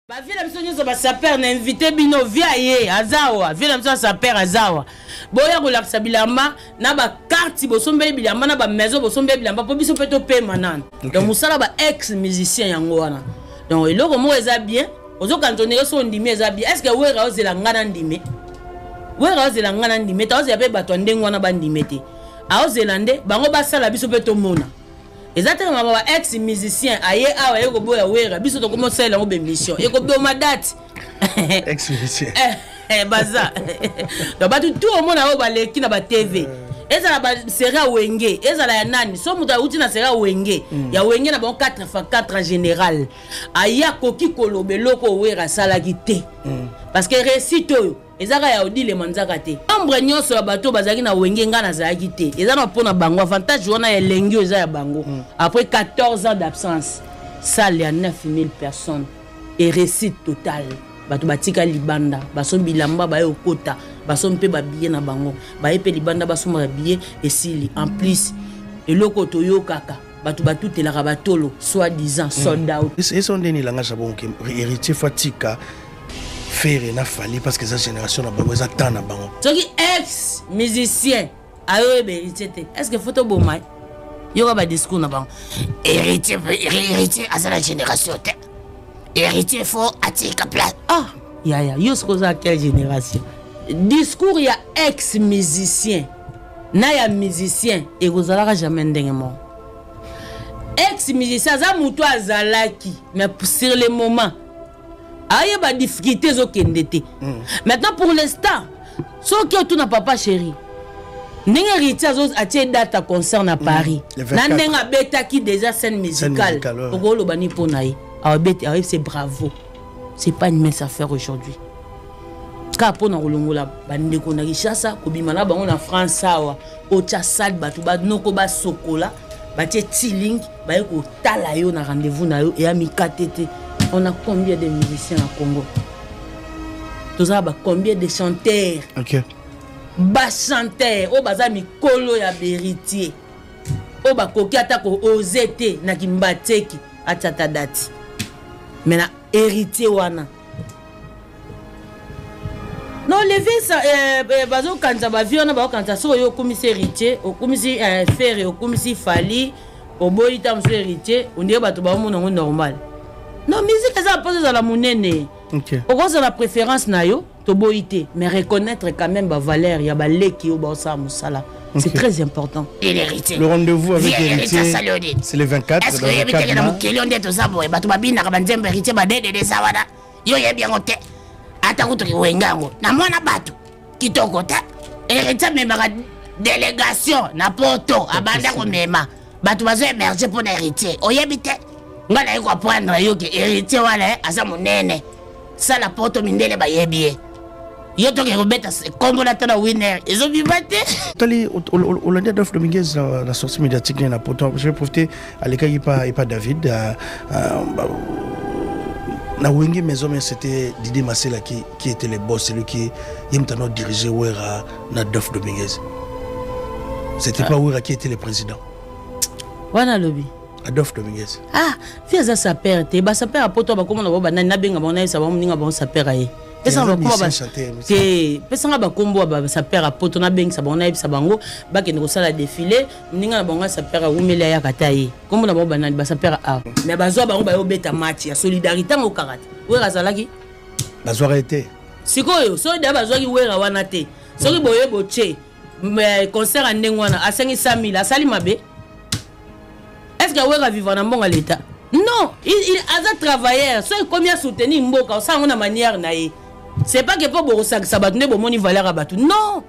bavie na biso nyonso basaper na invité bino via ye azawa vie na biso ya saper azawa boya kolakisa bilamba na bakarte bosombeli bilamba na bamaison bosombeli bilamba mpo biso mpe topema nano okay. donc mosala ba ex musicien yango wana donc eloko moko eza bien ozokana tondenge so ondimi eza bien estce que wera ozela ngai na ndimi wera ozela ngai na ndimi te ozela mpe bato ya ndenge wana bandimi te aozela nde bango basala biso mpe tomona eza te mama ba ex musicien aye awa aye koboya wera biso tokomi osalela yango bemission ekoboma date ex musicien eh, eh, baza donc bato tu omona oyo baleki na batv eh. ezala baserie ya wenge ezala ya nani so moto auti na serie ya wenge mm. ya wenge na bango 4 fa 4 en général aye akoki koloba eloko owera asalaki te mm. parce que réussite oyo eza kaka ya odile manzaka te membre nyonso ya bato bazalaki na wenge ngai nazalaki te eza na mpo na bango avantage wana ya elengi oyo eza ya bango mm. après 14 ans d'absence salle ya 9000 personnes et réussite totale bato batika libanda baso bilamba baye okota baso mpe babiye na bango baye mpe libanda basomba babiye esili en plus eloko toyokaka bato batutelaka batolo soit disant hmm. sold out eso nde nilanga jabon ke héritier fo atika fere na fali parce que eza génération na bango eza temps na bango soki ex musicien ayoyeba héritier te est ce que fo toboma ye yoka badiscours na bango héritier héritier aza na génération te héritier fo atika place ah yaya yo soki oza quelle génération discours ya ex musicien na ya musicien ekozalaka jamais ndenge moko ex musicien aza motu azalaki mais sur le moment ayeba difficulté ezokende te mm. maintenant pour l'instant soki otuna papa chéri ndenge héritier atie date ya concert na mm. paris mm. na ndenge abetaki déjà scène musicale okoloba ni mpo na ye awebete awebise bravo c'est pas une mince affaire aujourd'hui kaka mpo na kolongola bandeko na kinshasa kobima na bango na france awa otya sale bato banoko basokola batie tiling baye kotala yo na rendez-vous na yo eya mikate te on a combien de musiciens na congo tozala ba combien de chanteur okay. bachanteur oyo baza mikolo ya beritier oyo bakoki ata koose te na kimbateki atia ata dati me na héritier wana no levisa eh, eh, bazokanisa bavie wana bazokanisa soki oyo okumisi héritier okumisi eh, fere okumisi fali oboyi ntango mosusu héritier ondire bato baomona yango normal no miziki eza mposa ezala monene okay. okozala préférence na yo toboyi te mais reconnaître quand même bavaleur ya baleki oyo baosala mosala c'est très important le rendez-vous avec héritier c'est le 24 est-ce que oyebi teke na mokili oyo nde toza boye bato babinaka banzembo héritier badedede eza wana yo oyebi yango te ata kutu kiwenga yango na mwana bato kitoko te héritier amemaka délégation na poto abanda komema bato bazo émerge mpo na héritier oyebi te ngai naye koapprendre yo ke héritier wana eh, aza monene sala poto mindele bayebi ye yo toke kobeta kombo na to na winner ezobiba te tali olandi adolphe dominguez na sortie médiatique ne na poto je vais profiter alekaki pa epa david euh, euh, na wenge maison mais c'était didier masela qui, qui était le boss celui qui ye moto anao dirige wera na adolphe dominguez c'était ah. pas wera qui était le président wana alobi adolphe dominguez ah fi aza saper te basaper ya poto bakoma na bango banani nabenga bango nayesa bango moninga bango saper ya ye te pesanga bakombo ya basaper ya poto nabengisa bango nayebisa bango bakende kosala defile moninga na bango ya saper awumeli ayaka ta ye kombo na bango banani basaper ya art mais bazwa bango bayobeta match ya solidarité yango kaka te wera azalaki bazwaka ye te sikoyo soki da bazwaki wera wana te soki boye botie concert ya ndenge wana asengi 100 000 asali mabe est ce que wera vivre na mbongo ya leta non il, il, aza travailleur soki ekomi asoutenir mboka osala yango na manière na ye c'est pas que mpo bokosakisa bato nde bomoni valeur ya bato non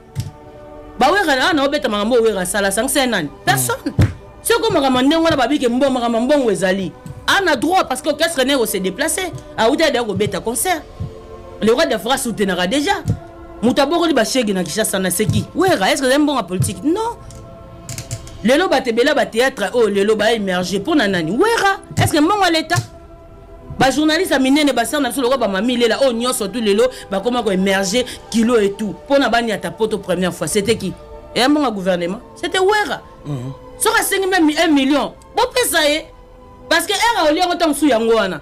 bawera na wana obeta makambo oyo wera asala asangisa ye nani personne soki omakambo ndenge wana babike mbo makambo mbongo ezali ana droit parce que orchestre ne ekose déplace awuti adaya kobeta concert le roi de france soutenaka déjà moto abokoli bashege na kinshasa na seki wera est ce que ezali mbongo ya politique non lelo bato ebele ba théâtre oyo oh, lelo ba émerge mpo na nani wera est ce que mbongo ya leta bajournaliste ya minene basere na biso lokola bamami lela oyo oh, nyonso tu lelo bakoma koemerge kilo et tout mpo na baniata poto première fois c'était qui eya mbongo ya gouvernement c'était wera mhm. soki asengi meme 1 million bopesa ye parce que ere aolia yango ntango mosusu yango wana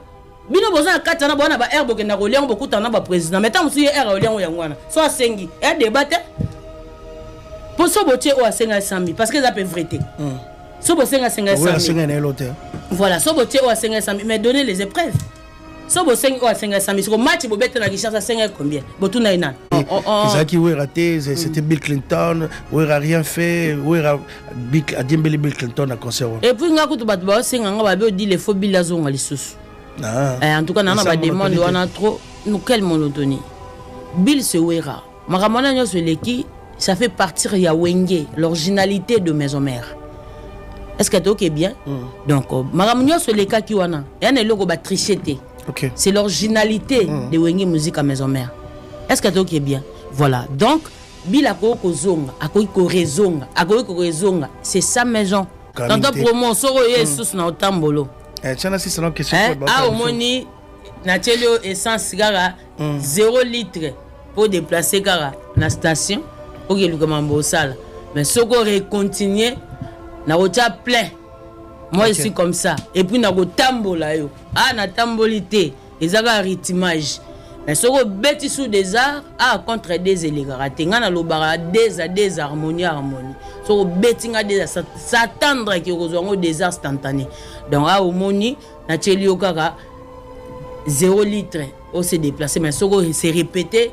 bino boza na kati wana bowana ba aire bokenda kolia yango bokutana na baprésident mai ntango mosusu ye aire aolia yango yango wana so asengi ya débat te mpo so botie oyo asenga esambi parce que eza mpe vrai te hmm. so bosenga asenga esambi voilà so botie oyo asenga esambi mais donner les épreuves so bosengi oyo asenga esambi soko match bobeta na richard asenga combien botuna ye nani ezalaki wera te c'était bill clinton wera rien fait wera Bill, adiembeli Bill Clinton na concert wana. Et puis nga kutu bato baosenga nga babe odi le faux Bill azonga lisusu. Ah. Eh, en tout cas nana ba demande wana trop nous quelle monotonie. Bill se wera. Makambo wana nyonso eleki ça fait partir ya wenge l'originalité de maison mère. Est-ce que tu okay bien mm. Donc euh, makambo nyonso elekaki wana. Ya na eloko ba tricher te. Okay. C'est l'originalité mm. de wenge musique à maison mère. Est-ce que tu okay bien Voilà. Donc Bila akoki kozonga, akoki korezonga, akoki korezonga. C'est sa maison. Tanta promo, soko oye hmm. esusu na otambolo. Eh, tiana si salon question. Eh, ah, omoni, natieli yo essence kaka 0 hmm. litre pour déplacer kaka na station. Oke luka mambo osala. Mais soko recontinue, na otia plein. Moi, okay. je suis comme ça. Et puis, na go tambola yo. Ah, na tamboli te. eza kaka rythmage mais soki obeti sous des arts a contre des elekaka te ngai nalobaka des a des harmonie harmonie soki obeti ngai des s'attendre ke okozwa yango des arts instantané donc a omoni natyeli yo kaka 0 litre ose déplace mais soki se répéter